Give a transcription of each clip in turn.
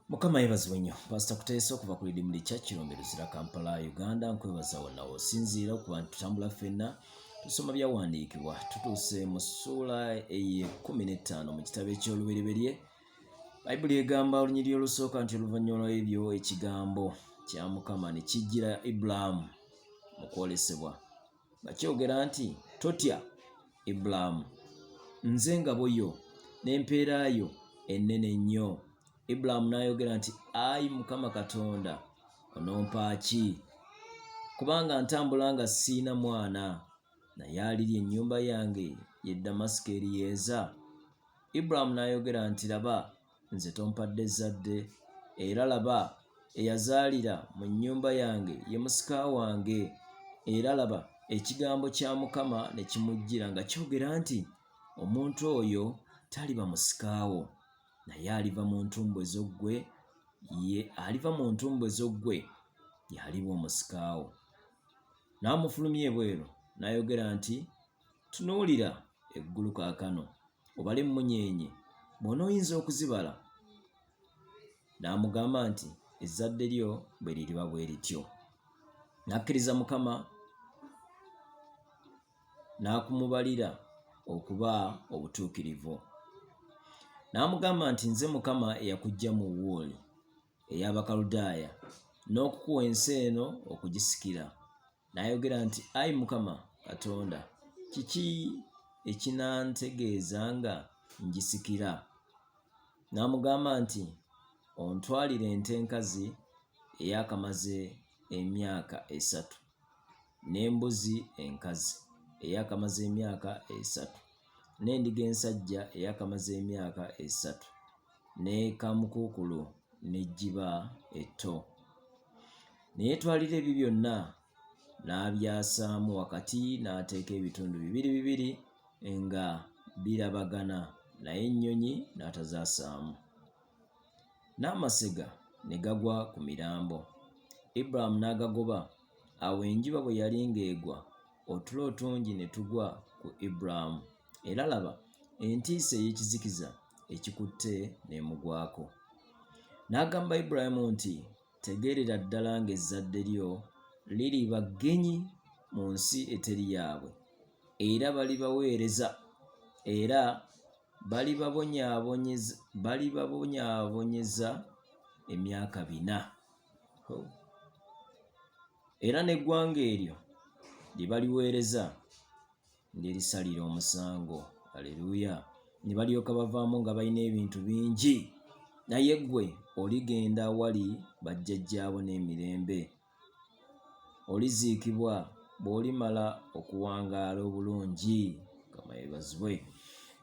mukama yebazibwe nnyo pasita kuteesa okuva ku lidimu likya kirombe luzira kampala uganda nkwebaza wonawo osinziira okuba nti tutambula ffenna tusoma byawandiikibwa tutuuse mu ssuula eyekumi n'ettaano mu kitabo eky'olubereberye bayibuli egamba olunyiriri olusooka nti oluvannyuma lw'ebyo ekigambo kya mukama ne kijjira ibulaamu mu kwolesebwa nga kyogera nti totya ibulaamu nze engabo yo n'empeera yo ennene nnyo ibulaamu n'ayogera nti ayi mukama katonda onompaaki kubanga ntambula nga siina mwana naye aliri ennyumba yange ye damasiko eriyeeza ibulaamu n'ayogera nti laba nze tompadde zzadde, era laba, eyazaalira mu nnyumba yange ye musika wange. Era laba, ekigambo kya Mukama ne kimujjira nga kyogera nti, Omuntu oyo taliba musika wo, naye aliva mu ntumbwe zo ggwe, ye aliva mu ntumbwe zo ggwe, y'aliba omusika wo. N'amufulumya ebweru, n'ayogera nti, Tunuulira eggulu kaakano, obale emmunyeenye, bw'ona oyinza okuzibala. N'amugamba nti, Ezzadde lyo bwe liriba bwe lityo. N'akkiriza Mukama n'akumubalira okuba obutuukirivu. N'amugamba nti, Nze Mukama eyakuggya mu Wuuli ey'Abakaludaaya n'okukuwa ensi eno okugisikira. N'ayogera nti, Ayi Mukama Katonda, kiki ekinantegeeza nga ngisikira? N'amugamba nti, Ontwalire ente enkazi eyakamaze emyaka esatu, n'embuzi enkazi eyakamaze emyaka esatu, n'endiga ensajja eyakamaze emyaka esatu. ne kaamukuukulu n'ejjiba etto. Ne yeetwalira ebyo byonna n'abyasaamu wakati n'ateeka ebitundu bibiri bibiri nga birabagana naye ennyonyi n'atazaasaamu. N'amasega ne gagwa ku mirambo, Ibulayimu n'agagoba. Awo enjuba bwe yali ng'egwa, otulo otungi ne tugwa ku Ibulayimu. era laba entiisa ey'ekizikiza ekikutte n'emugwako. N'agamba Ibulayimu nti, Tegeerera ddala ng'ezzadde lyo liriba ggenyi mu nsi eteri yaabwe, era balibaweereza, era balibabonyaabonyeza emyaka bina. Oh. Era n'eggwanga eryo lye baliweereza Ndirisalira omusango. Aleluya! Ne balyoka bavaamu nga balina ebintu bingi. Naye gwe oligenda awali bajjajjaabo n'emirembe. Oliziikibwa bw'olimala okuwangaala obulungi. Mukama yebazibwe.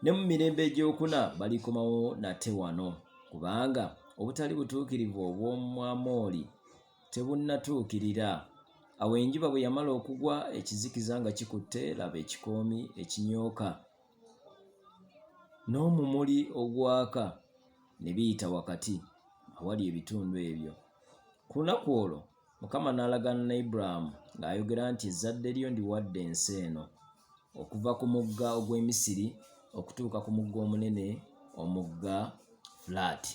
Ne mu mirembe egy'okuna balikomawo nate wano, kubanga obutali butuukirivu obw'omu Amooli tebunnatuukirira. Awo enjuba bwe yamala okugwa, ekizikiza nga kikutte, laba ekikoomi ekinyooka n'omumuli ogwaka ne biyita wakati awali ebitundu ebyo. Ku lunaku olwo Mukama n'alagaana ne Ibulayimu ng'ayogera nti, Ezzadde lyo ndiwadde ensi eno, okuva ku mugga ogw'e Misiri okutuuka ku mugga omunene, omugga Fulaati.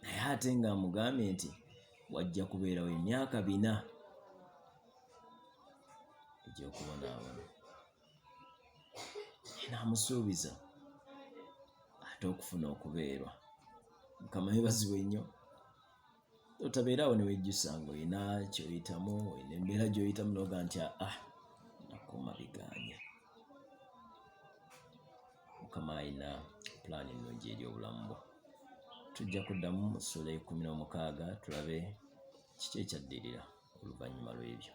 naye ate nga amugambye nti wajja kubeerawo emyaka bina egyokubonaabona naamusuubiza ate okufuna okubeerwa mukama yebazibwe nnyo otabeerawo newejjusa nga olina kyoyitamu olina embeera gyoyitamu noga nti aa ah, nakoma biganye mukama alina pulaani ennungi eri obulamu bwo tujja kuddamu mu ssuula ekumi n'omukaaga tulabe kiki ekyaddirira oluvannyuma lw'ebyo